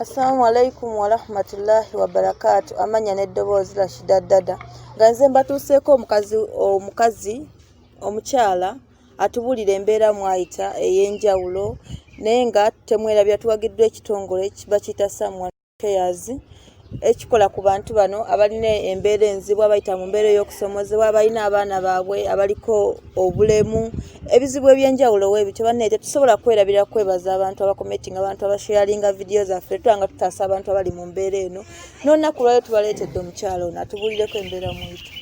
Assalamu alaikum warahmatullahi wabarakatu amanya n'eddoboozi Rashida Dada nga nze mbatuuseeko omukazi omukazi omukyala atubulira embeera mwayita ey'enjawulo naye nga temwerabira tuwagiddwa ekitongole bakiyita samwa Affairs ekikola ku bantu bano abalina embeera enzibu abayita mu mbeera ey'okusomozebwa abalina abaana baabwe abaliko obulemu ebizibu ebyenjawulo webityo banne tetusobola kwerabira kwebaza abantu abakometinga abantu abasheyalinga vidiyo zaffe tuba nga tutaasa abantu abali mu mbeera eno n'olunaku lwayo tubaleetedde omukyalo ono atubulireko embeera mwito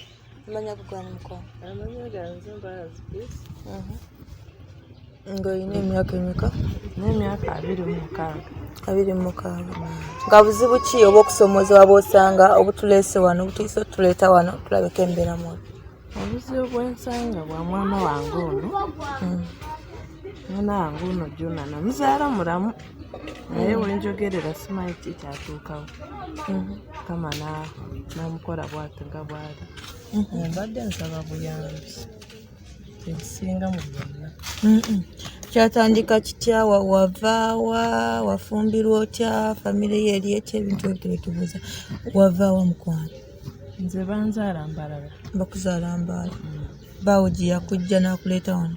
Amanya kugwana mukwano. Amanya ganze mbazi please. Mhm. Nga oyina emyaka emeka? N'emyaka abiri mu mukaaga. Abiri mu mukaaga. Nga buzibu ki oba okusoomozebwa bw'osanga obutuleese wano obutuyise otuleeta wano tulabeko embeera mu obuzibu bwensanga bwa mwana wange ono hmm. mwana wange ono jona namuzaala mulamu naye wenjogerera simanyi ki kyatuukawo mhm. kama namukola bwati nga bwali mhm. mbadde nsaba buyambi ekisinga mu byonna mhm. kyatandika kitya wavaawa wafumbirwa otya famire yo eri etya ebintu ebyo tebetubuuza wavaawa mukwano nze banzaala mbalala bakuzaala mbaala mm. baawo gye yakujja n'akuleeta wano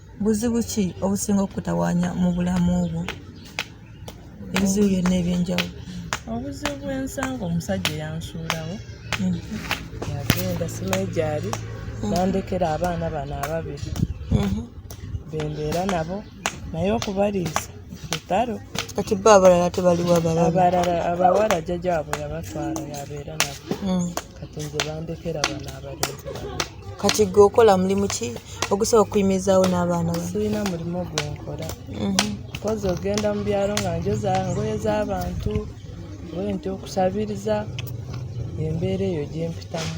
Buzibu ki obusinga okukutawaanya mu bulamu bwo? Ebizibu byonna eby'enjawulo. Obuzibu bw'ensanga omusajja eyansuulawo hmm. yagenda simanyi gyali hmm. nandekera abaana bano ababiri hmm. be mbeera nabo naye okubaliisa lutalo. Kati bo abalala tebaliwo abalala? Abalala abawala jjajjaabwe yabatwala yabeera nabo. kati nze bandekera bano abalenzi bano kati gwe okola mulimu ki ogusobola okuyimirizaawo n'abaana ba sirina mulimu gwe nkola mhm. kozi ogenda mu byalo nga njoza ngoye z'abantu oye nti okusabiriza embeera eyo gyempitamu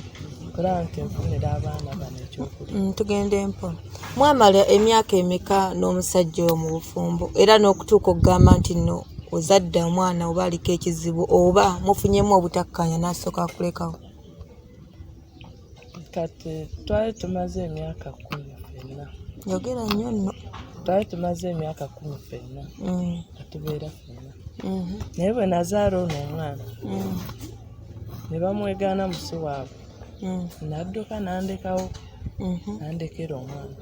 kulaba nti nfunira abaana bano ekyokulya mm, tugende mpola Mwamala emyaka emeka n'omusajja oyo mu bufumbo era n'okutuuka okugamba nti nno ozadde omwana oba aliko ekizibu oba mufunyemu obutakkaanya n'asooka akulekawo? Kati twali tumaze emyaka kkumi ffenna. Yogera nnyo nno. Twali tumaze emyaka kkumi ffenna mm. nga tubeera ffenna. Mm-hmm. Naye bwe nazaala ono omwana mm. ne bamwegaana musi waabwe. mm. nadduka nandekawo mm-hmm. nandekera omwana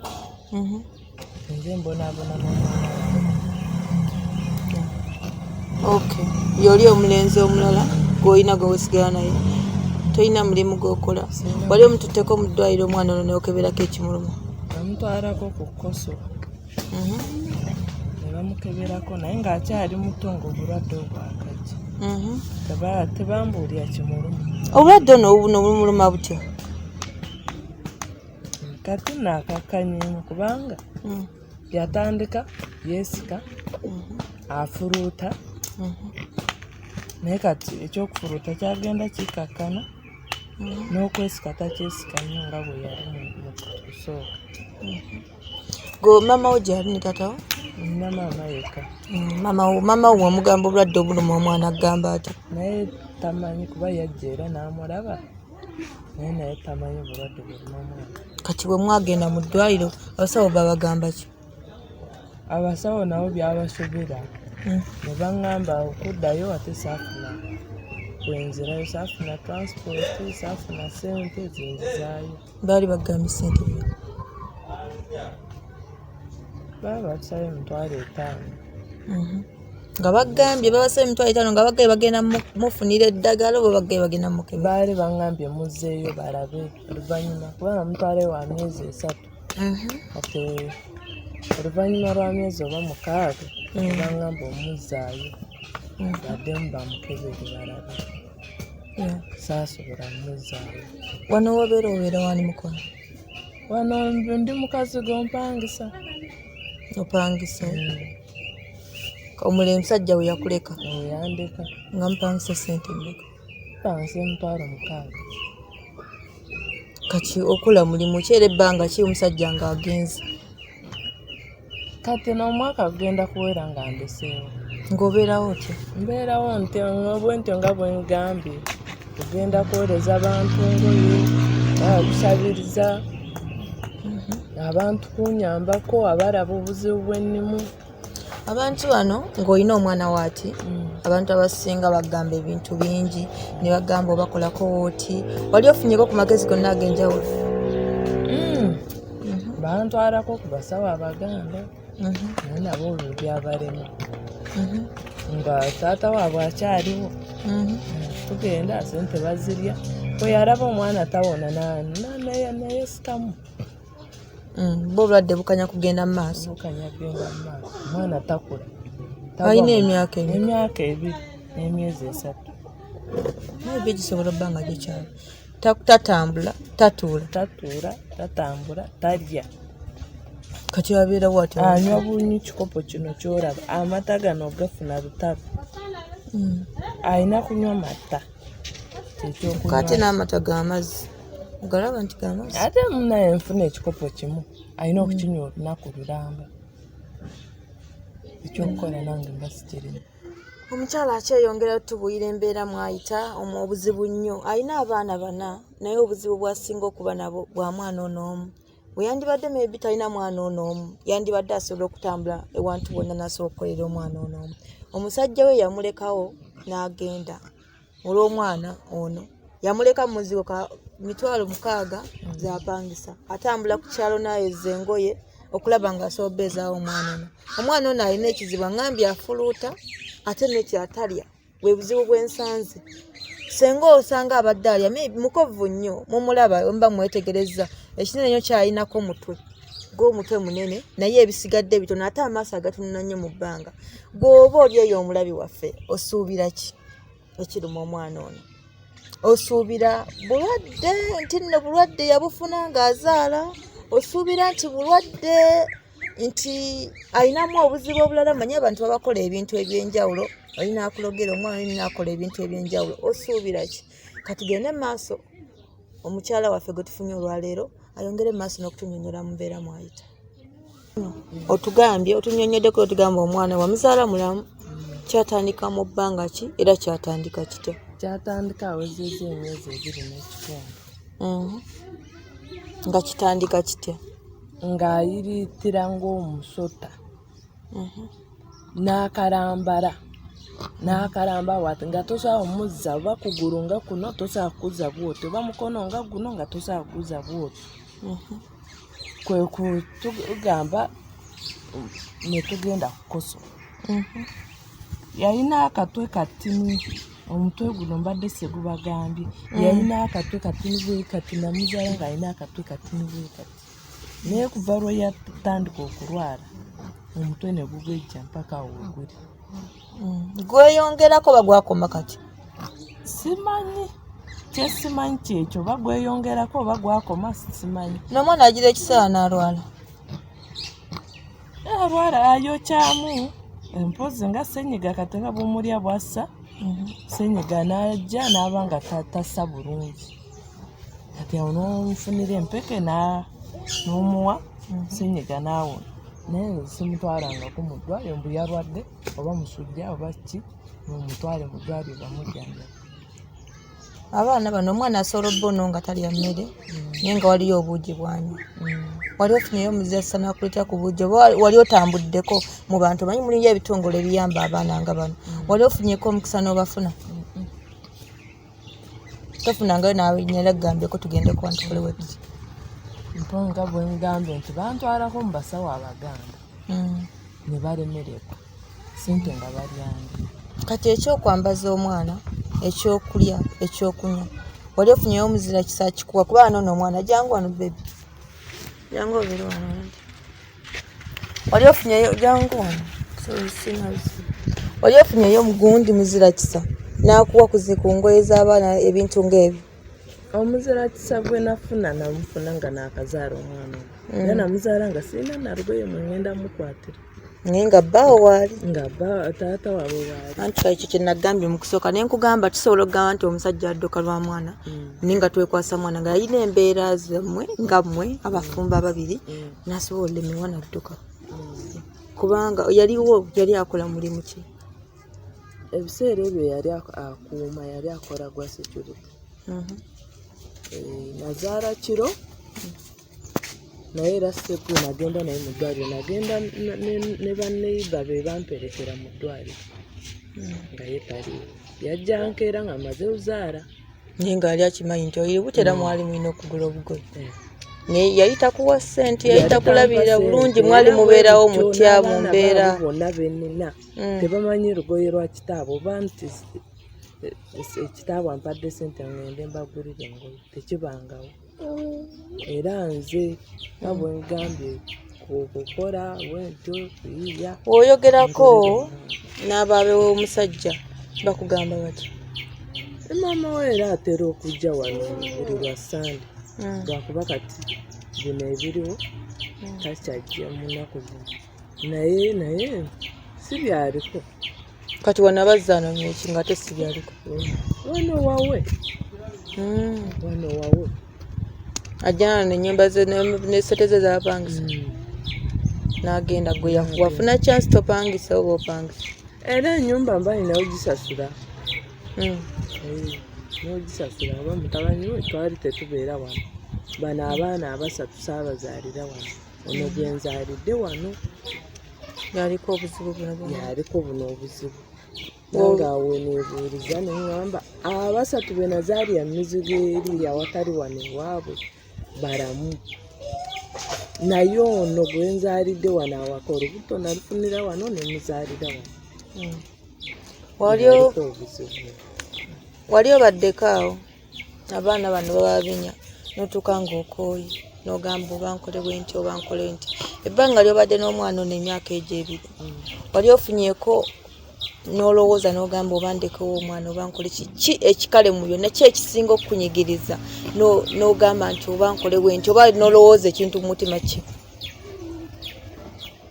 mm-hmm. nze mbonabona ok yoli omulenzi omulala gwolina gwewesigala naye tolina mulimu gwokola wali omututeko mu ddwaliro omwana ono neokeberako ekimuluma amutwalako ku koso mhm. ne bamukeberako naye ng'akyali muto ng'obulwadde obwakajja mhm. tebambuulira kimuluma obulwadde ono buno bumuluma butya kati naakakkanyemu kubanga mm. yatandika yeesika mhm. afuluuta naye kati ekyokufuluuta kyagenda kikakkana n'okwesika takyesika nnyo nga bwe yali mu kusooka go mama wo gyali ne tata wo nina maama yekka mm, mama wo mama wo wamugamba obulwadde obuluma omwana agamba ati naye tamanyi kuba yajja era n'amulaba naye naye tamanyi bulwadde buluma omwana kati bwe mwagenda mu ddwaliro abasawo babagamba ki abasawo nabo byabasobera mm. ne baŋŋamba okuddayo ate saafuna kwenzirayo saafuna transport saafuna sente zinzizaayo Baali bagambye ssente byo. Baali batusabye emitwalo etaano. Mhm. Nga bagambye babasabye emitwalo etaano nga bagambye bagenda mufunira eddagala oba bagambye bagenda mukebe. Baali bangambye muzzeeyo balabe oluvannyuma kubanga mutwalo wa myezi esatu. Mhm. Kati oluvannyuma lwa myezi oba mukaaga mm. bangamba omuzzaayo mm. baddemu bamukebere balabe. saasobola muzaayo wano wobeera obeera wani mukono wano ndi mukazi gompangisa opangisa mm. omule musajja we yakuleka yandeka nga mupangisa sente mmeka pangisa emitwalo mukaaga kati okola mulimu ki era ebbanga ki omusajja ng'agenze kati n'omwaka gugenda kuwera nga ndeseewo ng'obeerawo otya mbeerawo nti bwentyo nga bwe ngambye ogenda kuweereza bantu ngoye okusabiriza mhm. abantu kunyambako abalaba obuzibu bwennimu abantu bano ng'olina omwana waati mm. abantu abasinga bagamba ebintu bingi ne bagamba obakolako wooti wali ofunyeko ku magezi gonna ag'enjawulo mhm. bantwalako ku basawo abaganda mhm. naye nabo olwo byabalema mhm. nga taata waabwe akyaliwo tugenda sente bazirya weyalaba omwana tawona naye sikamu mm, bo obulwadde bukanya kugenda mu maaso omwana takula alina emyaka emyaka ebiri n'emyezi esatu naye byo gisobola obbanga gikyalo tatambula tatuula tatuula tatambula talya kati abeera wat anywa bunyi kikopo kino kyolaba amata gano ogafuna butabi hmm. alina kunywa mata kati n'amata gamazzi ogalaba nti gamazzi ate munaye nfuna ekikopo kimu alina okukinywa olunaku lulamba ekyokukola nange mbasikirimu omukyala akyeyongera otubuyira embeera mwayita omu obuzibu nnyo alina abaana bana naye obuzibu bwasinga okuba nabo bwa mwana ono omu weyandibadde maybe talina mwana ono omu yandibadde asobola okutambula ewantu wonna nasobola okukolera omwana ono omu omusajja we yamulekawo n'agenda olw'omwana ono yamuleka mu muzigo ka mitwalo mukaaga gyapangisa atambula ku kyalo nayozza engoye okulaba nga asobola ezaawo omwana ono omwana ono alina ekizibu aŋambye afuluuta ate nekyatalya bwe buzibu bwensanze senga osanga abadde alya mukovu nnyo mumulaba omuba mwetegereza ekinene nyo kyalinako mutwe gw'omutwe munene naye ebisigadde bitono ate amaaso agatunula nnyo mu bbanga gw'oba oli eyo omulabi waffe osuubira ki ekiruma omwana ono osuubira bulwadde nti nno bulwadde yabufuna ng'azaala osuubira nti bulwadde nti alinamu obuzibu obulala manyi abantu babakola ebintu ebyenjawulo olina akulogera omwana olina akola ebintu ebyenjawulo osuubira ki katugende mu maaso omukyala waffe gwe tufunye olwaleero ayongere mu maaso n'okutunyonyola mubeera mwayita otugambye otunyonyoddeko otugamba omwana wamuzaala mulamu kyatandika mu bbanga ki era kyatandika kitya kyatandika awezeza emyezi ebiri n'ekitundu mhm. nga kitandika kitya ng'ayiriitira ng'omusota mhm. n'akalambala n'akalamba wati nga tosobola omuzza oba kugulu nga kuno tosobola kukuzza bwoti oba mukono nga guno nga tosobola kukuzza bwoti mhm. kwe kutugamba netugenda kukoso mhm. yalina akatwe katini omutwe guno mbadde segubagambye mm. yalina akatwe katini bwekati namuzala nga alina akatwe katini bwekati naye kuva lweyatandika okulwala omutwe negugejja mpaka weguli mm. mm. gweyongerako bagwakoma kati simanyi kyesimanyi kyekyo oba gweyongerako oba gwakoma simanyi nomwana agira ekiseera nalwala eh, alwala ayokyamu empozi nga senyiga kati nga bumulya bwassa mm-hmm. senyiga najja naba nga tatasa bulungi kati awo nomufunira empeke nomuwa mhm. senyiga naawo naye simutwalangako mu ddwaliro mbu yalwadde oba musujja oba ki mumutwale mu ddwaliro bamujjanjaba abaana bano omwana asobola obba ono nga talya mmere mm. naye nga waliyo obuugi bwanyu mm. wali ofunyeyo omuzesa nakuleta ku buugi oba wali otambuddeko mu bantu omanyi mulinyo ebitongole ebiyamba abaana nga bano mm. wali ofunyeko omukisa n'obafuna tofunangayo naawe nyala kugambeko tugende kuba ntukole webiki mponga bwe ngambye nti bantwalako mu basawo abaganda mm. ne balemererwa sente nga balyandi kati ekyokwambaza omwana ekyokulya ekyokunywa wali ofunyeyo omuzira kisa kikuwa kuba anoono omwana jangu wano bebi jangu obere wano oli ofunyeyo jangu wano oli ofunyeyo omugundi muzira kisa n'akuwa kuzi ku ngoye z'abaana ebintu ng'ebyo omuzira kisa gwe nafuna namufuna nga naakazaala omwana mm. era namuzaala nga sirina nalugoye mu ngenda mukwatira naye nga bbaawo waali nga taata waabwe waali anti ekyo kye nagambye mu kusooka naye nkugamba tusobola okugamba nti omusajja adduka lwa mwana mm. naye nga twekwasa mwana nga yalina embeera zammwe nga mmwe abafumba ababiri mm. nasobola olemewa nadduka kubanga yaliwo yali akola mulimu ki ebiseera ebyo yali akuuma yali akola gwa security mhm. eh, nazaala kiro naye era seku nagenda naye mu ddwaliro nagenda ne baneiba be bamperekera mu ddwaliro mhm. nga ye taliiwo yajja nkeera nga amaze ozaala naye ng'ali akimanyi nti oyo butera mm. mwali mulina okugula obugoye mm. naye yali takuwa ssente yali takulabirira bulungi mwali mubeerawo mutya mu mbeera bonna benina mm. tebamanyi lugoye lwa kitaabo oba nti ekitaabo eh, eh, ampadde ssente ngende mbagulire engoye tekibangawo era nze nga bwe ngambye okukola bwentyo kuyiya oyogerako n'abaabe w'omusajja bakugamba bati maama we era atera okujja wano buli lwa sande hmm. lwakuba kati bino ebiriwo hmm. takyajja munaku zino naye naye si byaliko kati wano abazza anoonya eki nga te si byaliko wano wawe hmm. wano wawe ajjana nenyumba ze nesete ze zapangisa hmm. nagenda gwe wafuna chance topangisa oba opangisa era enyumba mba nina ogisasula hmm. nogisasula oba mutabani we twali tetubeera wano bano abaana abasatu saabazaalira wano ono gyenzaalidde wano yaliko obuzibu yaliko buno obuzibu nange awo nebuuliza neŋamba abasatu be nazaalira mizigo eri awatali wano ewaabwe balamu naye ono gwenzaalidde wano awaka olubuto nalufunira wano nemuzaalira wano hmm. wali obaddeko awo abaana bano bababinya notuuka ngaokooye nogamba obankole bwenti obankole nti ebbanga lyobadde n'omwana ono emyaka egyo ebiri mm. wali ofunyeko nolowooza nogamba oba ndekewo omwana oba nkole kiki ekikale mu byonna ki ekisinga okukunyigiriza nogamba nti oba nkole bwenti oba nolowooza ekintu mu mutima kye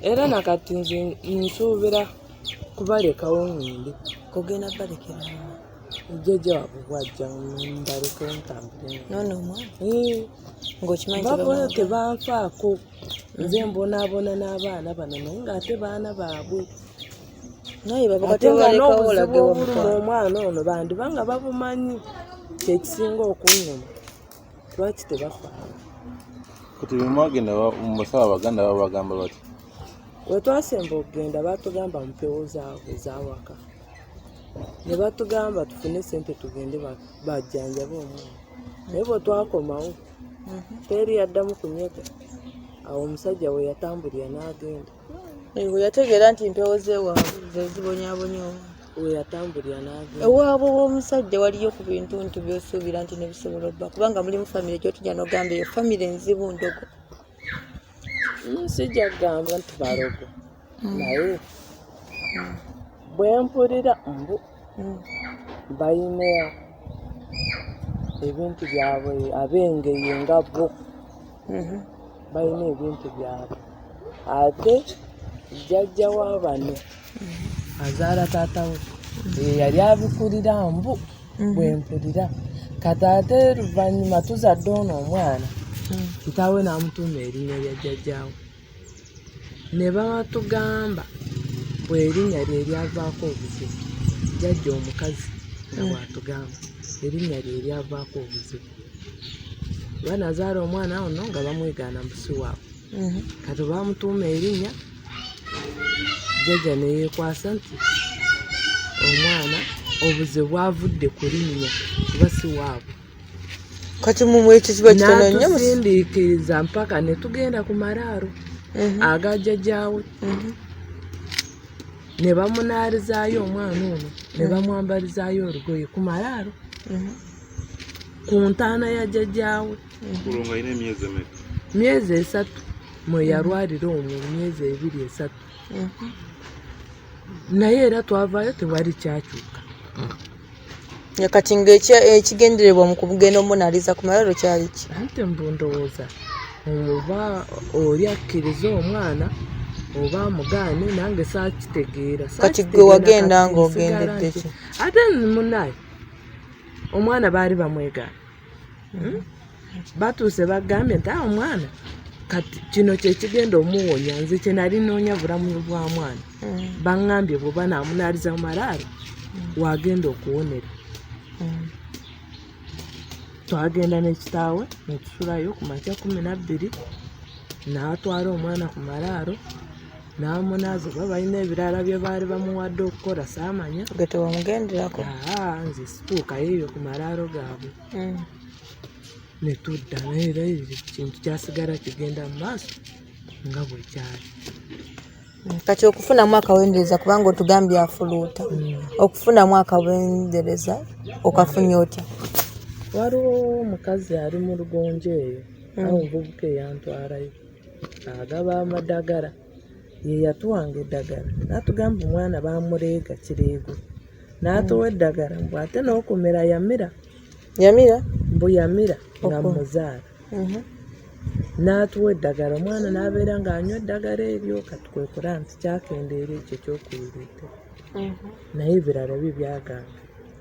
era nakati nze nsuubira kubalekawo ngende kugenda balekera jjajja wabwe bwajja mbaleke ntambule nono omwana eh. ngaokimanyi baboyo tebanfaako nze mm. mbonaabona n'abaana bano naye ng'ate baana baabwe naye babaatewalekaolage obuluma omwana ono bandiba nga babumanyi kyekisinga okunnuma lwaki tebafaala kati bemwagenda mubasawo abaganda babagamba bati wetwasemba okugenda batugamba mpewo zaabwe zawaka ne batugamba tufune sente tugende bajjanjaba omwana naye bwe twakomawo mhm. teri yaddamu kunyega awo omusajja we yatambulira n'agenda we yategeera nti mpewo zewaabwe zezibonyabonyawo we yatambulira n'agenda ewaabwe w'omusajja waliyo ku bintu nti byosuubira nti nebisobola obba kubanga mulimu famire gyotujja nogamba eyo famire nzibu ndogo Mm, sijja kugamba nti balogo mm. naye mm. bwe mpulira mbu balina ebintu byabwe ab'engeri nga bo mm-hmm. balina ebintu byabwe ate jjajja wa bano mm-hmm. azaala taata we yeyali abikulira mbu mhm. bwempulira kati ate luvannyuma tuzadde ono omwana mm. kitaawe n'amutuuma erinnya lya jjajjaawe ne batugamba bwerinnya lye lyavaako obuzibu jjajja omukazi nga mm. bwatugamba erinnya lye lyavaako obuzibu banazaala omwana ono nga bamwegaana musi waabwe mhm. kati bamutuuma erinnya jjajja ne yeekwasa nti omwana obuze bwavudde ku linnya kuba si waabwe kati mumwe ekyo kiba kitono nnyo natusindiikiriza mpaka ne tugenda ku maraaro mhm. aga jjajjaawe mhm. ne bamunaalizaayo omwana ono ne mhm. bamwambalizaayo olugoye ku maraaro ku ntaana ya jjajjaawe kulonga ine myezi emeka myezi esatu mweyalwalira omwo myezi ebiri esatu mhm. naye era twavayo tewali kyakyuka mm. kati nga ekigendererwa mu kugenda omunaliza ku malalo kyali ki ante mbu ndowooza oba oli akkiriza omwana oba amugaane nange sakitegeera kati gwe wagenda nga ogendedde ki ate munaye omwana baali bamwegaana hmm? batuuse bagambye nti awo mwana kati kino kyekigenda omuwonya nze kyenali noonya bulamu bwa mwana hmm. baŋambye bwoba namunaaliza mu malaalo hmm. wagenda okuwonera twagenda n'ekitaawe netusulayo ku makya kumi nabbiri naatwala omwana ku malaalo n'amunaaza oba balina ebirala bye baali bamuwadde okukola saamanya gwe tewamugenderako nze situukayo ebyo ku malaalo gaabwe mm. ne tudda naye era ekintu kyasigala kigenda mu maaso nga bwe kyali mm, kati okufunamu akawendereza kubanga otugambye afuluuta mm. okufunamu akawendereza okafunye otya waliwo omukazi ali mu lugonjo eyo awo omuvubuka eyantwalayo agaba amadagala yeyatuwanga eddagala natugamba omwana bamuleega kireego natuwa hmm. eddagala mbu ate nokumira yamira yamira mbu yamira nga muzaala mhm. natuwa eddagala omwana nabeera nga anywa eddagala eryo katukwekura nti kyakendeera ekyo kyokuyireeta mhm. naye ebirala bye byagamba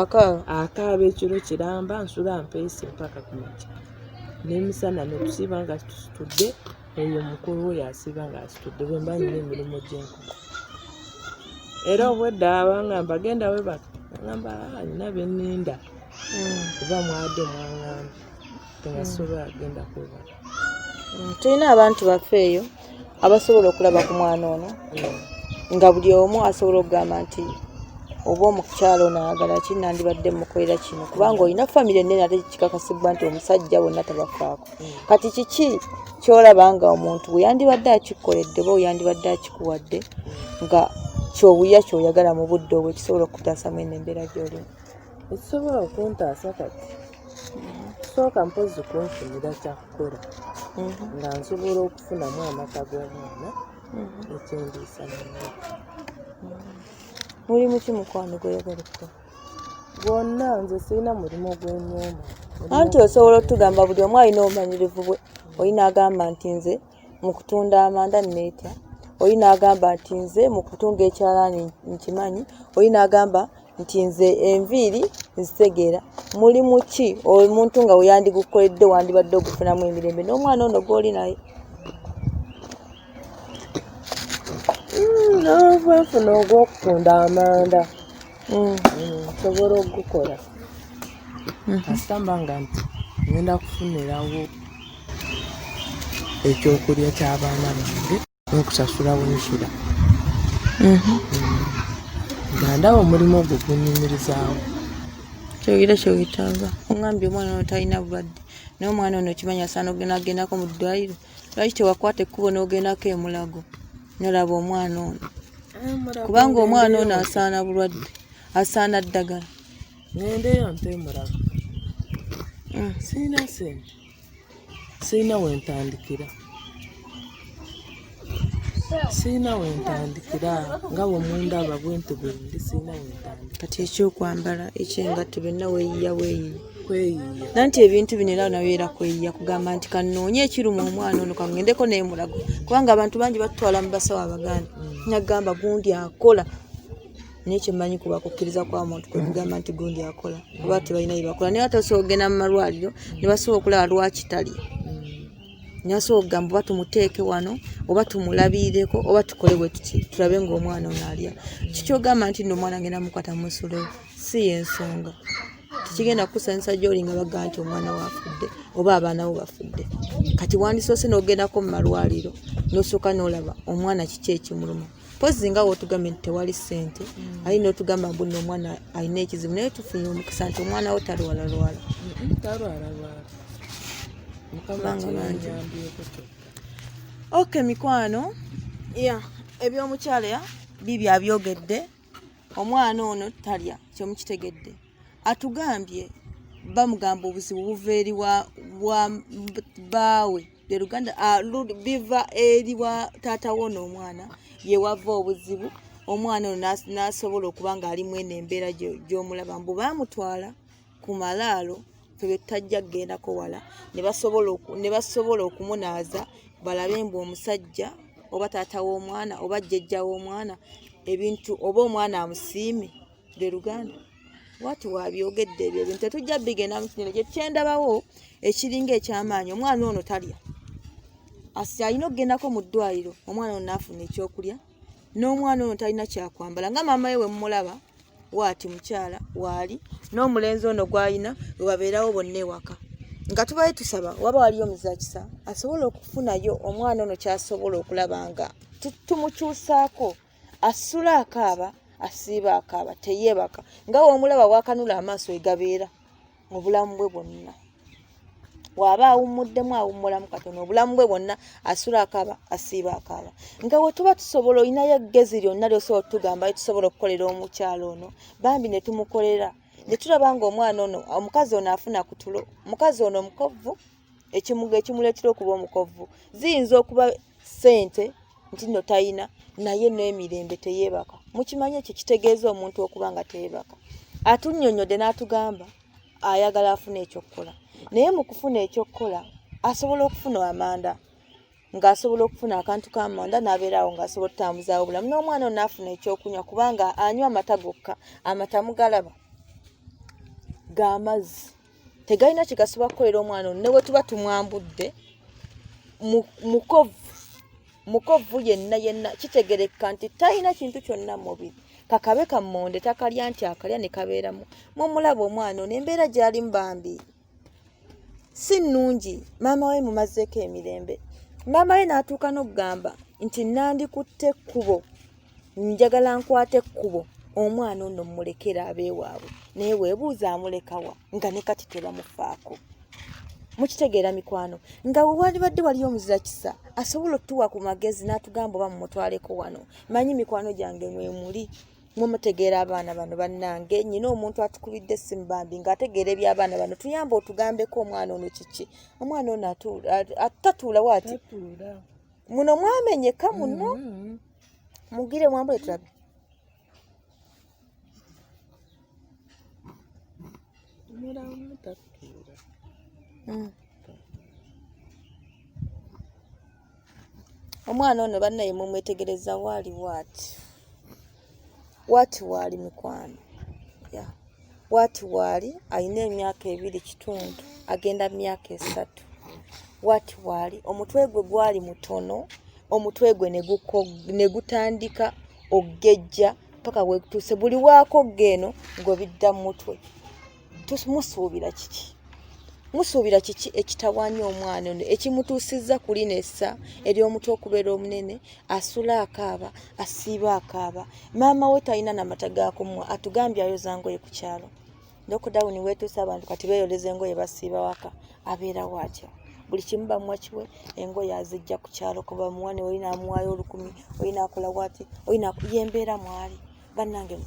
akaaba akaaba ekiro kiramba nsula mpeese mpaka ku makya n'emisana ne tusiiba nga tusitudde eyo mukulu we yasiiba nga asitudde bwe mba nina emirimu gy'enkoko era obwedda abanga mbagenda we baka ngamba alina ah, bye nninda hmm. kuba mwade mwangamba tebasobola agenda kwebaka tulina abantu baffe eyo abasobola okulaba ku mwana ono nga buli omu asobola okugamba nti oba omukyalo nayagala ki nandibadde mukolera kino kubanga olina famiry enene ate kikakasibwa nti omusajja bonna tabafaako mm. kati kiki kyolaba nga omuntu weyandibadde akikoledde oba weyandibadde akikuwadde nga kyobuya kyoyagala mu budde obwo ekisobola okukutaasa mwene embeera gyolimu ekisobola okuntaasa kati sooka mpozi kunfunira kyakukola mhm. nga nsobola okufunamu amata g'omwana mhm. ekyendiisa nana mulimu ki mukwano gweyagala okukola gwonna nze sirina mulimu gwenyumba anti osobola otugamba buli omu alina obumanyirivu bwe olina agamba nti nze mu kutunda amanda neetya oli n'agamba nti nze mu kutunga ekyalaani nkimanyi oli n'agamba nti nze enviiri nzitegeera mulimu ki omuntu nga weyandigukoledde wandibadde ogufunamu emirembe n'omwana ono gwoli naye hmm, nfuna ogwokutunda amanda mm. mm, nsobola okugukola mm-hmm. kasita mba nga nti ngenda kufunirawo ekyokulya kyabaana bange nokusasula wensula mm-hmm. nga ndaba omulimu ogwo gunyumirizawo kyogera kyewetaaga ongambye omwana ono talina bulwadde naye omwana ono okimanyi asaana ogenda agendako mu ddwaliro lwaki tewakwata ekkubo n'ogendako emulago nolaba omwana ono ah, kubanga omwana ono asaana bulwadde asaana ddagala nendeyo nte emulago mm. sirina sente sirina wentandikira sirina wentandikira nga bwemundaba bwenti bwendi sirina wentandikira kati ekyokwambala ekyengatto byonna weyiya weyiya nanti ebintu bino era nawe era kweyiya kugamba nti kanoonye ekiruma omwana ono kangendeko nemulago kubanga abantu bangi batutwala mu basawo abaganda mm. nagamba gundi akola nekyemanyi kuba kukkiriza kwa muntu kwekugamba nti gundi akola oba tebalina yebakola naye atasobola okugenda mu malwaliro nebasobola okulaba lwakitali nasobola okugamba oba tumuteeke wano oba tumulabiireko oba tukole bwe tuti tulabe ngaomwana ono alya kikyogamba nti no omwana ngenda mukwata musule si yensonga tekigenda kukusanyusa gyoli nga bagga nti omwana wafudde oba abaana bo bafudde kati wandisoose n'ogendako mu malwaliro n'osooka n'olaba omwana kiki ekimuluma mpozi nga wotugambye nti tewali ssente mm. aye notugamba mbuno omwana alina ekizibu naye tufunye omukisa nti omwana wo talwalalwala ok mikwano ebyomukyala bibi abyogedde omwana ono talya kyemukitegedde atugambye bamugamba obuzibu buva eri baawe lyeruganda ah, biva eri wa taata wo n'omwana yewava obuzibu omwana ono n'asobola okuba ng'ali mwene embeera gy'omulaba mbu baamutwala ku malaalo fe bye tutajja kugendako wala ne basobola okumunaaza balabe mbu omusajja oba taata w'omwana oba jjejja w'omwana ebintu oba omwana amusiime lwe luganda wati wabyogedde ebyo ebintu tetujja bigenda mukino kyekyendabawo ekiringa ekyamaanyi omwana ono talya asi alina okugendako mu ddwaliro omwana ono naafuna ekyokulya n'omwana ono talina kyakwambala nga maama we wemumulaba waati mukyala waali n'omulenzi ono gwalina webabeerawo bonna ewaka nga tubaye tusaba waba waliyo omuzakisa asobola okufunayo omwana ono kyasobola okulaba nga tumukyusaako asula akaaba asiiba akaaba teyeebaka nga womulaba wakanula amaaso egabeera mu bulamu bwe bwonna waaba awummuddemu awummulamu katono obulamu bwe bwonna asula akaba asiiba akaba nga we tuba tusobola olinayo eggezi lyonna lyosobola otugamba e tusobola okukolera omukyalo ono bambi ne tumukolera ne tulaba nga omwana ono omukazi ono afuna ku tulo omukazi ono omukovvu ekimuga ekimuleetera okuba omukovu ziyinza okuba ssente nti nno talina naye n'emirembe teyeebaka mukimanye ekyo kitegeeza omuntu okuba nga teyeebaka atunnyonnyodde n'atugamba ayagala afuna ekyokukola naye mu kufuna ekyokukola asobola okufuna amanda ng'asobola okufuna akantu ka manda n'abeeraawo ng'asobola okutambuzaawo obulamu n'omwana ono afuna ekyokunywa kubanga anywa amata gokka amata mugalaba ga mazzi tegalina kyegasobola kukolera omwana ono newe tuba tumwambudde mukovu mukovu yenna yenna kitegereka nti talina kintu kyonna mubiri kakabe kammonde takalya nti akalya ne kabeeramu mumulaba omwana ono embeera gyali mubambi si nnungi maama we mumazeeko emirembe maama we n'atuuka n'okugamba nti nandikutte ekkubo njagala nkwata ekkubo omwana ono mmulekera abeewaabwe naye weebuuza amulekawa nga ne kati tebamufaako mukitegeera mikwano nga wewalibadde waliyo omuzira kisa asobola okutuwa ku magezi n'atugamba oba mumutwaleko wano manyi mikwano gyange mwemuli mwemutegeera abaana bano bannange nyina omuntu atukubidde essimu bambi ng'ategeera eby'abaana bano tuyamba otugambeko omwana ono kiki omwana ono atatuula waati muno mwamenyeka muno mm-hmm. mugire mwambule tulabe hmm. omwana ono bannaye mumwetegereza waali waati Bwati waali mikwano bwati waali alina emyaka ebiri kitundu agenda myaka esatu bwati waali omutwe gwe gwali mutono omutwe gwe ne gutandika okugejja paka wegutuuse buli waakogga eno ng'obidda mu mutwe. musuubira kiki musuubira kiki ekitawaanya omwana ono ekimutuusizza ku lino essa ery'omutu okubeera omunene asula akaaba asiiba akaaba maama we talina namata gakumwa atugambye ayoza ngoye ku kyalo nokudawuni weetuusa abantu kati beeyoleza engoye basiiba waka abeera waatya buli kimu bamuwa kiwe engoye azijja ku kyalo kubamuwa ne olina amuwaayo olukumi olina akola waati olina yembeera mwali bannange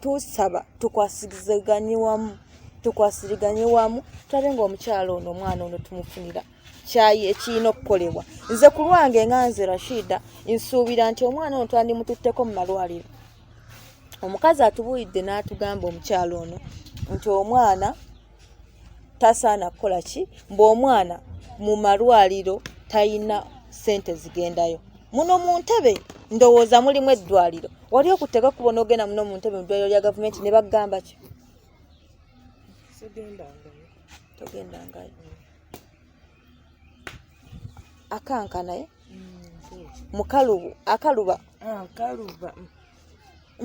tusaba tukwasizeganye wamu tukwasiriganye wamu tulabe ngaomukyalo ono omwana ono tumufunira kyayi ekirina okukolebwa nze ku lwange nga nze rashida nsuubira nti omwana ono twandimututteko mu malwaliro omukazi atubuulidde n'atugamba omukyalo ono nti omwana tasaana kukola ki mbu omwana mu malwaliro talina sente zigendayo muno mu ntebe ndowooza mulimu eddwaliro wali okutteka kuba onoogenda muno mu ntebe mu ddwaliro lya gavumenti ne bagamba ki togendangayo akanka naye mukalubu akaluba ah, akaluba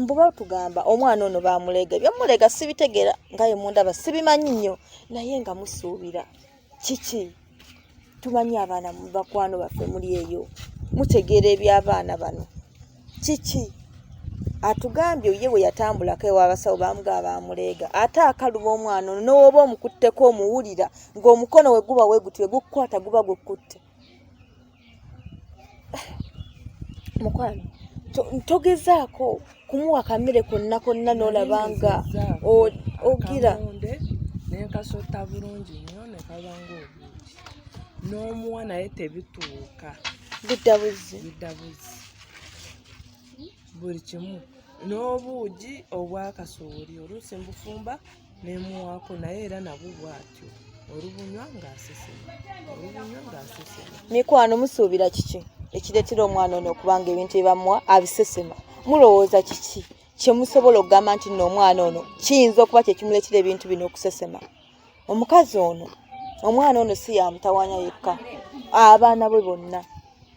mbu batugamba omwana ono bamulega byamulega sibitegera nga ye mundaba sibimanyi nnyo naye nga musuubira kiki tumanyi abaana bakwano baffe muli eyo mutegeera eby'abaana bano kiki atugambye ye bwe yatambulako ew'abasawo baamugaa baamuleega ate akaluba omwana ono newooba omukutteko omuwulira ng'omukono we guba weguti we gukukwata guba gukutte mukwano togezaako kumuwa kamere konna konna n'olaba nga ogira nenkasota bulungi nyo nekabanga obuuki n'omuwa naye tebituuka bidda buzzi bidda buzzi buli kimu n'obuugi obwakasooli oluusi mbufumba nemuwaako naye era nabwo bwatyo olubunywa ngaasesema olubunywa ngaasesema mikwano musuubira kiki ekireetera omwana ono okubanga ebintu ebamuwa abisesema mulowooza kiki kyemusobola okugamba nti nno omwana ono kiyinza okuba kyekimuleetera ebintu bino okusesema omukazi ono omwana ono si yamutawanya yekka abaana bwe bonna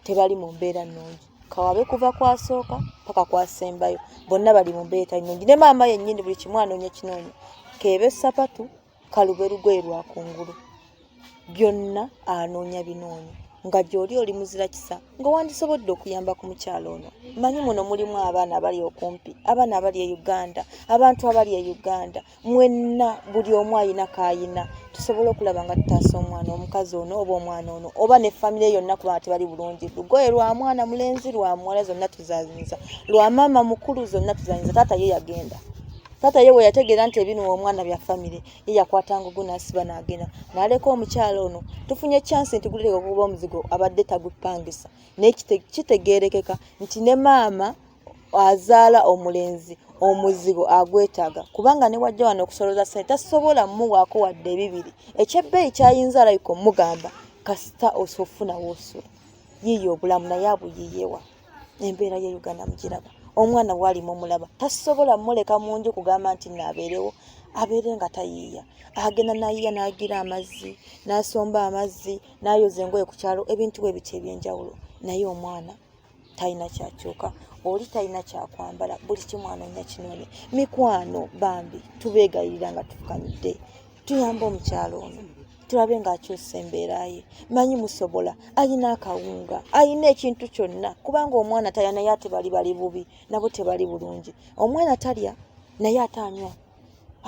tebali mu mbeera nnungi kawabe kuva kwasooka paka kwasembayo bonna bali mu mbeera nnungi ne maama yennyini buli kimu anoonya kinoonya keebe sapatu kalube lugoye lwa kungulu byonna anoonya binoonya nga gy'oli oli muzira kisa nga wandisobodde okuyamba ku mukyalo ono manyi muno mulimu abaana abali okumpi abaana abali e uganda abantu abali e uganda mwenna buli omu ayina kayina tusobola okulaba nga tutaasa omwana omukazi ono oba omwana ono oba ne famire yonna kuba nga tebali bulungi lugoye lwa mwana mulenzi lwa muwala zonna tuzanyinza lwa maama mukulu zonna tuzanyinza taata ye yagenda taata ye weyategeera nti ebinuwa omwana bya famire ye yakwata ngugu nasiba nagenda naleka omukyalo ono tufunye chansi nti gulireka okuba omuzigo abadde tagupangisa naye kitegeerekeka nti ne maama azaala omulenzi omuzigo agwetaaga kubanga ne wajja wano okusoloza sente tasobola mumuwaako wadde ebibiri ekyebbeeyi kyayinza alabika omugamba kasita osofuna woosula yiiyo obulamu naye abuyiyewa embeera ye uganda mugiraba omwana waali mumulaba tasobola muleka mu nju kugamba nti naabeerewo abeere nga tayiiya agenda nayiiya n'agira amazzi n'asomba amazzi n'ayoza engoye ku kyalo ebintu bwe bityo eby'enjawulo naye omwana talina kyakyuka oli talina kyakwambala buli kimu anoonya kinoone mikwano bambi tubeegayirira nga tufukamidde tuyamba omukyalo ono tulabe ng'akyusa embeera ye manyi musobola alina akawunga alina ekintu kyonna kubanga omwana talya naye ate bali bali bubi nabo tebali bulungi omwana talya naye ate anywa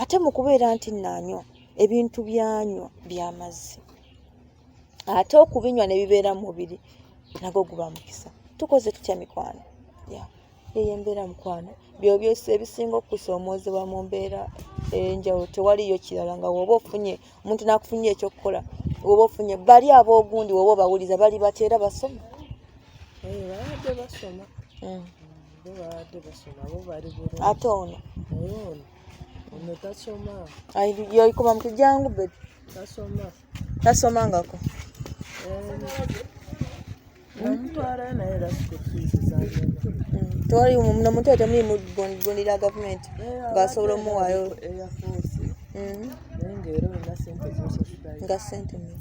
ate mu kubeera nti naanywa ebintu byanywa by'amazzi ate okubinywa ne bibeera mu mubiri nagwo guba mukisa tukoze tutya mikwano eyo embeera mukwano byobyosi ebisinga okusoomozebwa mu mbeera enjawulo tewaliyo kirala nga woba ofunye omuntu nakufunye ekyokukola woba ofunye bali aboogundi woba obawuliza bali batya era basoma babadde basoma hmm. babadde basoma bo bali bulungi ate ono ono tasoma yoyikoma mutujangu bebi tasoma tasomangako tewali muno muto temuli mugondera gavumenti ngaasobola omuwaayo mm-hmm. nga sente mm.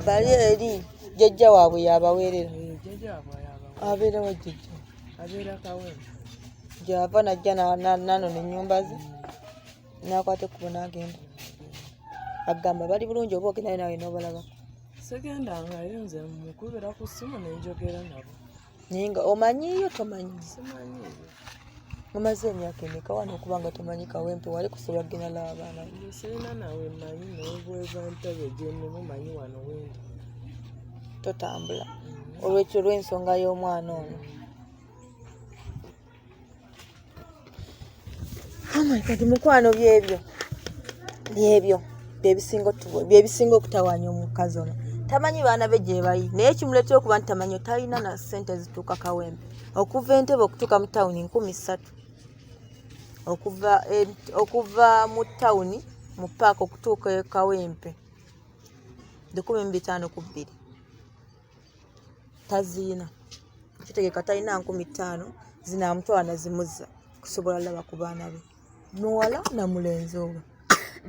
bali eri jajja waabwe yabaweerera eh, abeera wa jajja gyava najja nanona enyumba ze mm. nakwata ekkubo n'agenda agamba bali bulungi oba ogendayo nawe n'obalaba segenda nga yo nze mukubira ku ssimu nenjogera nabo naye nga omanyiyo tomanyi mumaze emyaka emeka wano okuba nga tomanyi kawempe wali kusobola kugenda laba abaana sirina nawe manyi nobweza ntebe gyenemu manyi wano wendi totambula mm. olwekyo olw'ensonga y'omwana ono Oh my God, mukwano byebyo byebyo byebisinga otubo byebisinga okutawaanya omukazi ono tamanyi baana be gyebali naye kimuleetera okuba nti tamanyi talina na sente zituuka kawembe okuva entebe okutuuka mu tawuni nkumi ssatu okuva e, okuva mu tawuni mu paaka okutuuka e kawempe lukumi mu bitaano ku bbiri taziina kitegeka talina nkumi ttaano zinaamutwala nazimuzza kusobola laba ku baana be muwala na mulenzi owe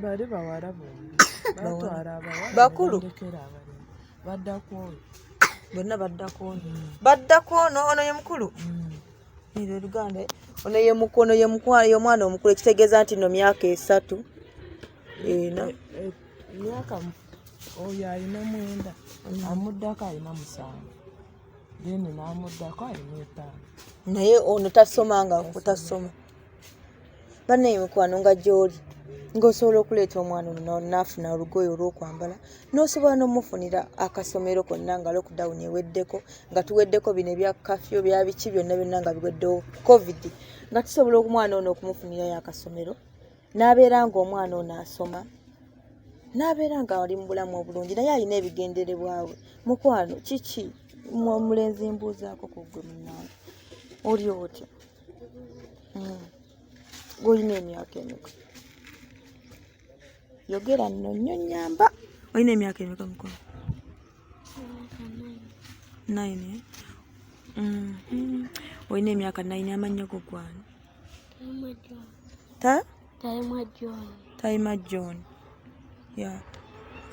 bali bawala bombi batwala abawala bakulu baddako oyo bonna baddako ono mm. baddako ono ono ye mukulu mm. Ilo luganda eh? ono ye mukono ye mukwano ye mwana omukulu ekitegeeza nti no myaka esatu ena eh, eh, myaka oyo alina mwenda mm. amuddako alina musanvu then namuddako alina etaano naye ono tasoma nga kutasoma banne emikwano nga gyoli ng'osobola okuleeta omwana ono naafuna olugoye olw'okwambala n'osobola n'omufunira akasomero konna nga lockdown eweddeko nga tuweddeko bino ebya kafyo bya biki byonna byonna nga biweddewo covid nga tusobola omwana ono okumufunirayo akasomero n'abeera ng'omwana ono asoma n'abeera nga ali mu bulamu obulungi naye alina ebigenderebwawe mukwano kiki omulenzi mbuuzaako ku gwe munange oli otya hmm. golina emyaka emeka yogera nno nnyo nyamba olina emyaka emeka mukulu nine eh? mm-hmm. olina emyaka nine amannya go gwani ta Tayima John. Tayima John. Yeah.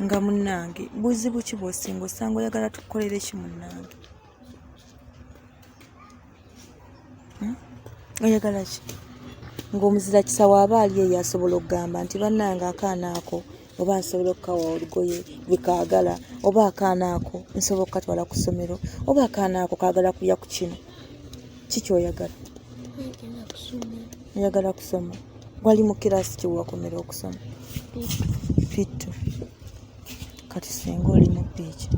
Nga munnange buzibu ki bw'osinga osanga oyagala tukukolere ki munnange? Hmm? Oyagala ki? Ng'omuzira kisawo aba ali eyo asobola okugamba nti bannange akaana ako. Hmm? oba nsobola okukawa olugoye lwekaagala oba akaana ako nsobola okukatwala ku ssomero oba akaana ako kaagala kulya ku kino ki kyoyagala oyagala kusoma wali mu kiraasi kyewakomera okusoma pittu kati senga oli mu piiki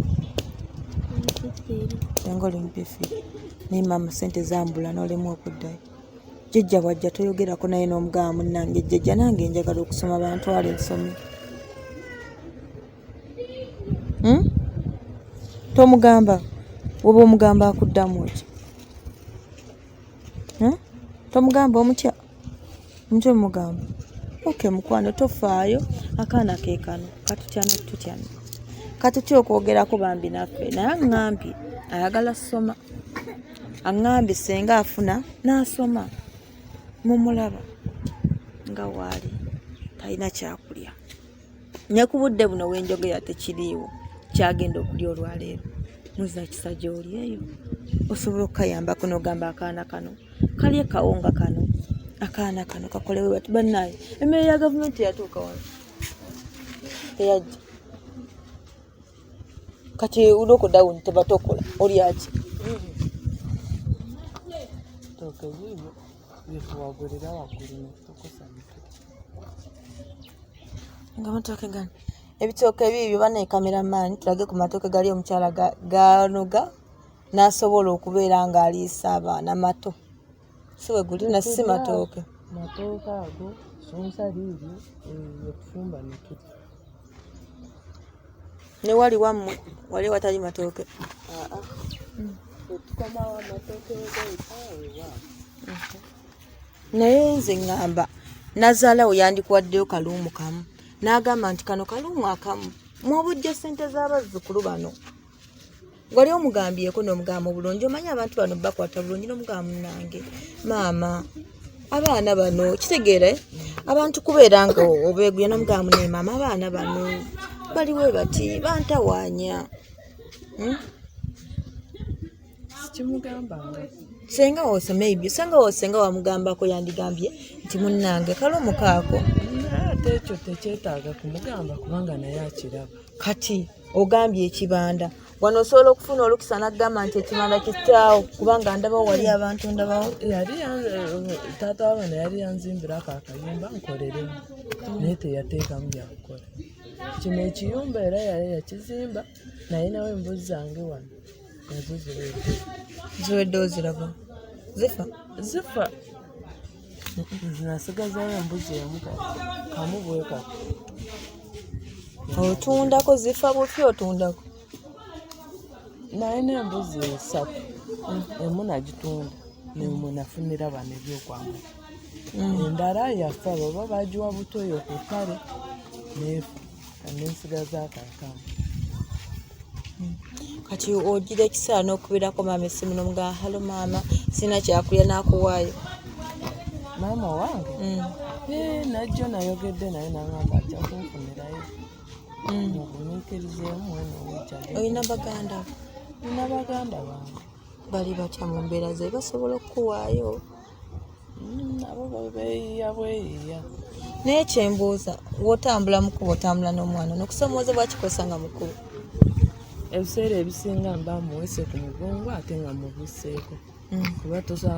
senga oli mu pifi naye maama sente zambula nolemwa okuddayo jjajja bwajja toyogerako naye n'omugaba munnange jjajja nange njagala okusoma bantwala ensome hmm? tomugamba oba omugamba akuddamu ki hmm? tomugamba omutya omutya omugamba oke mukwano tofaayo akaana kekano katutyana tutyana katutya okwogerako bambi naffe naye aŋambye ayagala soma aŋŋambye senga afuna n'asoma mumulaba nga waali talina kyakulya ne ku budde buno wenjogera tekiriiwo kyagenda okulya olwaleero muza kisa gyoli eyo osobola okukayambako nogamba akaana kano kalye kawunga kano akaana kano kakolewe bati banaye emmere ya gavumenti yatuuka wano eyajja kati udoko down tebatokola olyaki toke bibyo byetuwagulira wagulu netukosa nga matoke gani ebitooke biibyo banaye kameramaani tulage ku matooke gali omukyala ganoga n'asobola okubeera ng'aliisa abaana mato si we guli na si matooke matooke ago sunsa liiryo yetufumba nekiri ne wali wammwe wali watali matooke naye nze ŋŋamba nazaalawo yandikuwaddeyo kaluumu kamu n'agamba nti kano kaluumu akamu mwobujja ssente z'abazzukulu bano wali omugambyeko n'omugamba obulungi omanyi abantu bano bakwata bulungi n'omugamba munange maama abaana bano kitegeere abantu kubeera nga obeeguya n'omugamba ne maama abaana bano baliwe bati bantawaanya hmm? sikimugambanga senga wose maybe senga wose senga wamugambako yandigambye nti munnange kale omukaako ate ekyo tekyetaaga kumugamba kubanga naye akiraba kati ogambye ekibanda wano osobola okufuna olukisa nagamba nti ekibanda kitaawo kubanga ndabawo wali abantu ndabawo yali taata wabana yali yanzimbira ako akayumba nkoleremu naye teyateekamu byakukola kino ekiyumba era yali yakizimba naye nawe embuzi zange wano nazo ziwedde ziwedde oziraba zifa zifa nasigazayo embuzi emu kamu bweka otundako zifa bufi otundako naye nembuzi esatu emu nagitunda nemwe nafunira bano ebyokwambala mm. endala yafa baba bagiwa butoyo ku ttale neefa nesigaza akakamu kati ogira ekiseera n'okubeerako maama essimu nomuga halo maama sina kyakulya nakuwaayo maama owange mm. eh, najjo nayogedde naye nagamba nti akunfunirayo mm. ogumiikirizeemu mwena owekyali olina baganda olina baganda bange bali batya mu mbeera ze basobola okukuwaayo mm, abo beyiya bweyiya naye kyembuuza wotambula mukulu otambula n'omwana nokusomooza bwakikozesa nga mukulu ebiseera ebisinga mba muwese ku mugongo ate nga mubuseeko mm. kuba tosa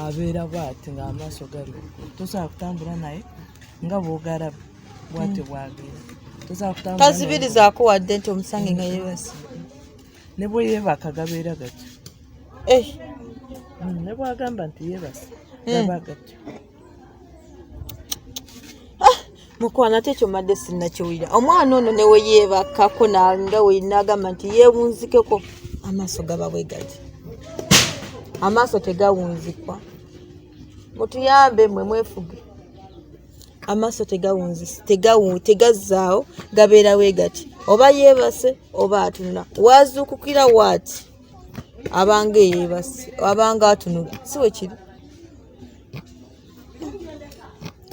abeera bwati nga amaaso gali tosobola kutambula naye nga bwogalaba bwatyo mm. bwabeera tosobola kutambula tazibirizaako wadde nti omusange nga yebase ne bwe yeebaka gabeera gatyo eh. hmm, ne bwagamba nti yeebase eh. gaba gatyo ah, mukwano ate ekyo madde sinnakiwulira omwana ono ne we yeebakako nga wenaagamba nti yeewunzikeko amaaso gaba bwe gati amaaso tegawunzikwa mutuyambe mwe mwefuge amaaso tegawunzisa tegawu tegazzaawo gabeera we gati oba yeebase oba atunula waazuukukira waati abanga eyeebase abanga atunula si we kiri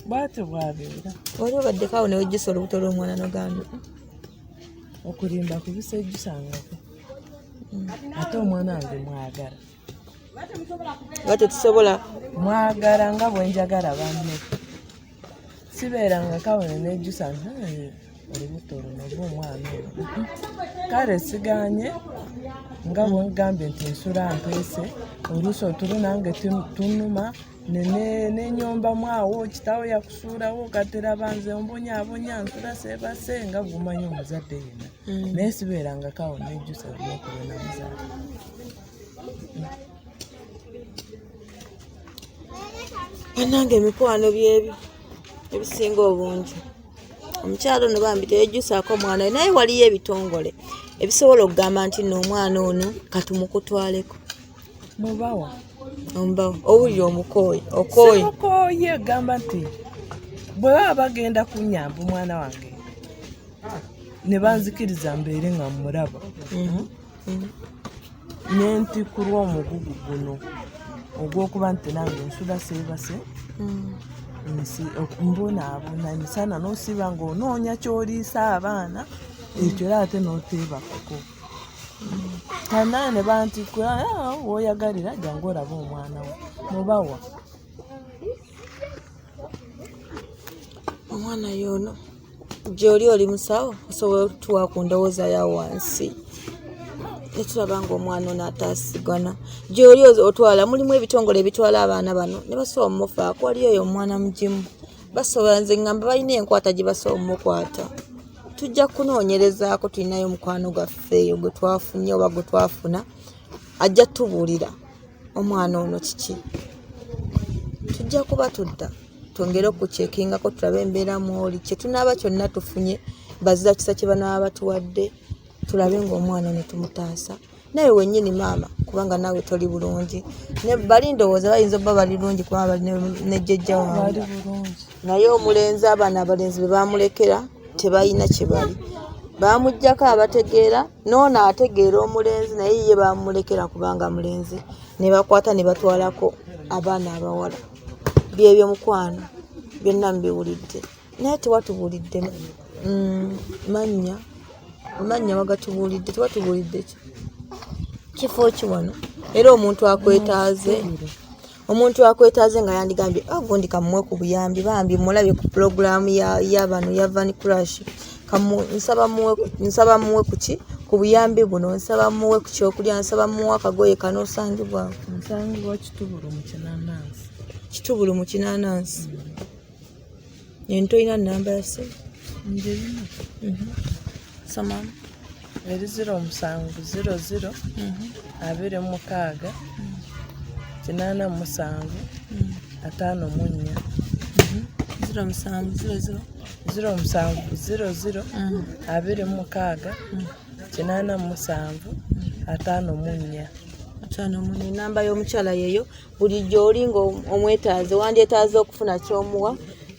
bwatyo bwabeera wali obaddeko awo newejjusa olubuto lw'omwana nogamba okulimba kubisa ejjusangako mm. ate omwana wange mwagala nga tetusobola mwagala nga bwenjagala banne sibeeranga kawene nejjusa nti olubuto luno oba omwana ono kale siganye nga bwegambye nti nsula mpeese oluusi otulu nange tunuma nenyombamu awo kitawo yakusuulawo katera banze ombonyabonya nsula sebase nga gumanyi omuzadde yena mm. naye sibeerangako awo nejjusa lyokubenamuzaala banange emikwano byebyo ebisinga obungi omukyalo no bambi teyejjusaako omwana we naye waliyo ebitongole ebisobola okugamba nti no omwana ono katumukutwaleko mubawa omubawa owulira omukooyi okooyi okooyi egamba nti bwe baba bagenda kunyamba omwana wange ne banzikiriza mbeere nga mmulaba mhm. nenti ku lw'omugugu guno ogw'okuba nti nange nsuda seebase mm. nsi mbonaabona emisana n'osiba ng'onoonya ky'oliisa abaana ekyo era ate n'oteebakako kanaane banti ah, woyagalira jangu olaba omwana wo mubawa omwana yoono gyoli oli musawo osobola okutuwa ku ndowooza ya wansi netulaba nga omwana ono ataasigana gyoli otwala mulimu ebitongole ebitwala abaana bano ne basobola omufaako waliyo oyo omwana mugimu basobola nze ngamba balina enkwata gye basobola omukwata tujja kunoonyerezaako tulinayo omukwano gwaffe eyo gwe twafunye oba gwe twafuna ajja tubuulira omwana ono kiki tujja kuba tudda twongere okukyekingako tulabe embeera mwoli kyetunaaba kyonna tufunye bazira kisa kye banaaba batuwadde tulabe ngaomwana netumutaasa naye wenyini maama kubanga naawe toli bulungi bali ndowooza bayinza obba bali lungi kubanga bali nejjejja wange naye omulenzi abaana abalenzi be bamulekera tebalina kye bali baamugjako abategeera noono ategeera omulenzi naye ye bamulekera kubanga mulenzi ne bakwata ne batwalako abaana abawala byebyo mukwano byonna mubiwulidde naye tewatubuulidde mm, mannya mannya wagatubuulidde tewatubuulidde ki kifo ki wano era omuntu akwetaaze omuntu akwetaaze nga yandigambye agundi ah, kamuwe ku buyambi bambi mulabye ku pulogulaamu yabano ya van crash nsaba muwe kuki ku buyambi buno nsaba muwe ku kyokulya nsaba muwe akagoye kanosangibwa kitubulu mu kinanansi kitubulu mu kinanansi mm. ento olina namba yase ndirina mhm. samam eri ziro omusanvu ziro ziro mhm. abiri mukaaga mm. kinana musanvu mm. ataano munya mhm. ziro musanvu ziro ziro ziro musanvu ziro ziro abiri mukaaga kinaana mu musanvu ataano mu nnya ataano mu nnya enamba y'omukyala yeeyo buli gy'oli ng'omwetaaze wandyetaaze okufuna ky'omuwa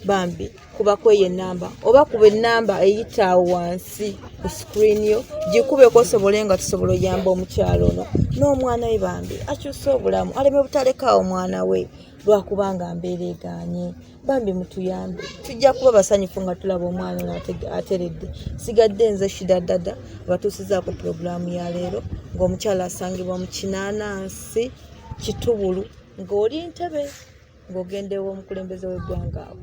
bambi kuba kweyo enamba oba kuba enamba eyitaawo wansi ku sikuriini yo gikubeko osobole nga tusobola oyamba omukyala ono n'omwana we bambi akyuse obulamu aleme butalekaawo omwana we lwakubanga mbeera eganye bambi mutuyambe tujja kuba basanyufu nga tulaba omwana ono ateredde sigadde nze shida dada abatuusizaako pulogulaamu ya leero ng'omukyala asangibwa mu kinaanansi kitubulu ng'oli ntebe ng'ogendewo omukulembeze w'eggwanga awo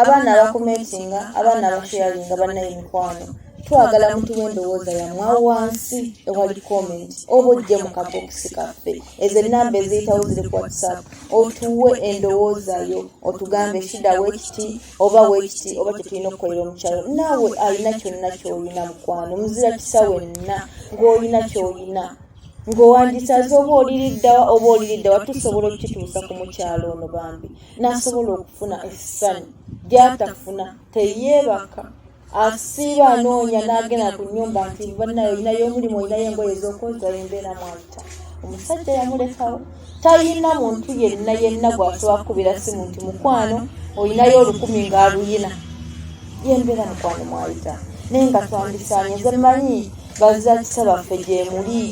abaana abakomentinga abaana abasharinga banaye mikwano twagala mutuwa endowooza yamwa wansi ewali comment oba ojje mu kabokisi kaffe ezo enamba eziyitawo ziri ku whatsapp otuwe endowooza yo otugambe shida wekiti oba wekiti oba kyetulina okukolera omukyalo naawe alina kyonna kyoyina mukwano muzira kisa wenna ng'olina kyoyina ng'owandisaze oba oliriddawa oba oliriddawa tusobola okukituusa ku mukyalo ono bambi n'asobola okufuna essanyu gy'atafuna teyeebaka asiiba anoonya n'agenda ku nnyumba nti banayo olinayo omulimu olinayo engoye ez'okweza embeera mwayita omusajja yamulekawo talina muntu yenna yenna gwasobola kukubira simu nti mukwano olinayo olukumi ng'aluyina yembeera mukwano mwayita naye nga twandisaanye nze manyi bazakisa baffe gyemuli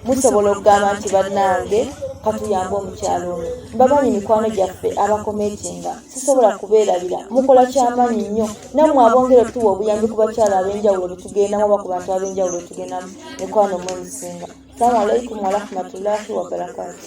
musobola okugamba nti bannange katuyambe omukyalo ono mbamanyi mikwano gyaffe abakometinga sisobola kubeerabira mukola kyamaanyi nnyo nammwe abongera otuwa obuyambi ku bakyalo ab'enjawulo betugendamu oba ku bantu ab'enjawulo betugendamu mikwano mwe musinga salamu alaikum warahmatullahi wabarakatu